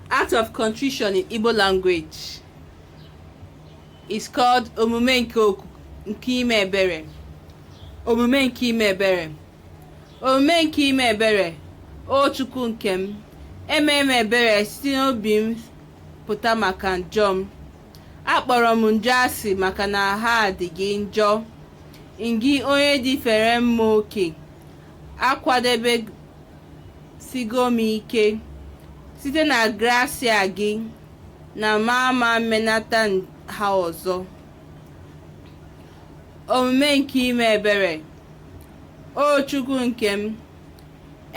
Act of contrition in Igbo language is called omume nke oku nke ime ebere. Omume nke ime ebere. Omume nke ime ebere. O Chukwu nke m, eme m ebere si n'obi m pụta maka njọ m. Akpọrọ m njọ asị maka na ha dị gị njọ. Ngị onye dị fere mma oke, akwadebe sigo m ike site na grasia gị na m ama mmenata ha ọzọ omume nke ime ebere o chukwu nke m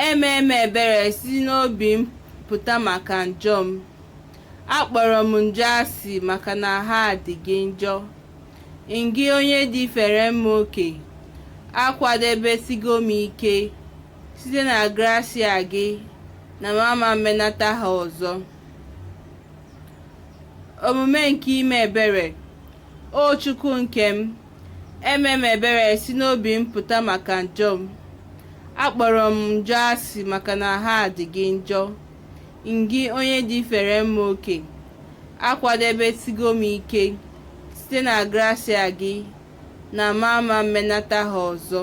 eme m ebere si n'obi m pụta maka njọ m akpọrọ m njọ asị maka na ha dị gị njọ ngị onye dị fere mma oke akwadebesigo m ike site na grasia gị na m ama mmenata ha ọzọ omume nke ime ebere o chukwu nke m eme m ebere si n'obi m pụta maka njọ m akpọrọ m njọ asị maka na ha dị gị njọ ngị onye dị fere mma oke akwadebesigo m ike site na grasia gị na m ama mmenata ha ọzọ